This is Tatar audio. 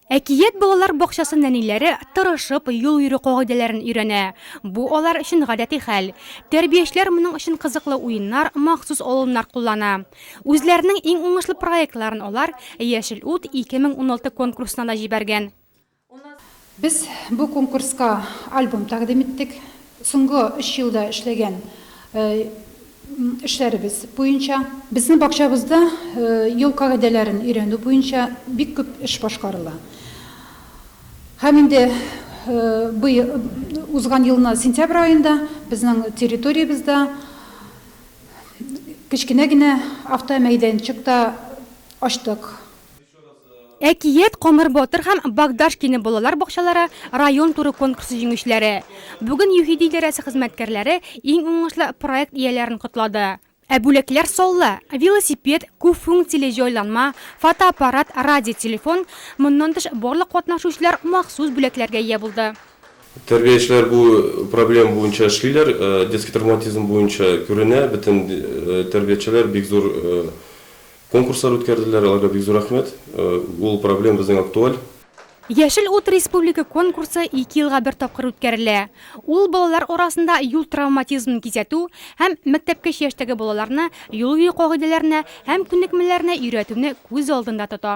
Әкият балалар бакчасы нәниләре тырышып юл йөрү кагыйдәләрен өйрәнә. Бу алар өчен гадәти хәл. Тәрбиячеләр моның өчен кызыклы уеннар, махсус алымнар куллана. Үзләренең иң уңышлы проектларын алар Яшел ут 2016 конкурсына да җибәргән. Без бу конкурска альбом тәкъдим иттек. Соңгы өч елда эшләгән эшләребез буенча. Безнең бакчабызда юл кагыйдәләрен өйрәнү буенча бик күп эш башкарыла. Һәм инде узган елны сентябрь аенда безнең территориябездә кечкенә генә автомәйданчык та ачтык. Әкият Камыр батыр һәм Богдашкины балалар бакчалары район туры конкурсы җиңүчеләре. Бүген ЮХИДИ идарәсе хезмәткәрләре иң уңышлы проект ияләрен котлады. Ә бүләкләр саллы, велосипед, күп функцияле җайланма, фотоаппарат, радиотелефон, моннан тыш барлык катнашучылар махсус бүләкләргә ия булды. Тәрбиячеләр бу проблема буенча эшлиләр, детский травматизм буенча күренә, бөтен тәрбиячеләр бик зур Конкурслар үткәрделәр, аларга бик зур рәхмәт. Ул проблем безнең актуаль. Яшел ут республика конкурсы ике елга бер тапкыр үткәрелә. Ул балалар арасында юл травматизмын кисәтү һәм мәктәпкәчә яшьтәге балаларны юл йөрү кагыйдәләренә һәм күнекмәләренә өйрәтүне күз алдында тота.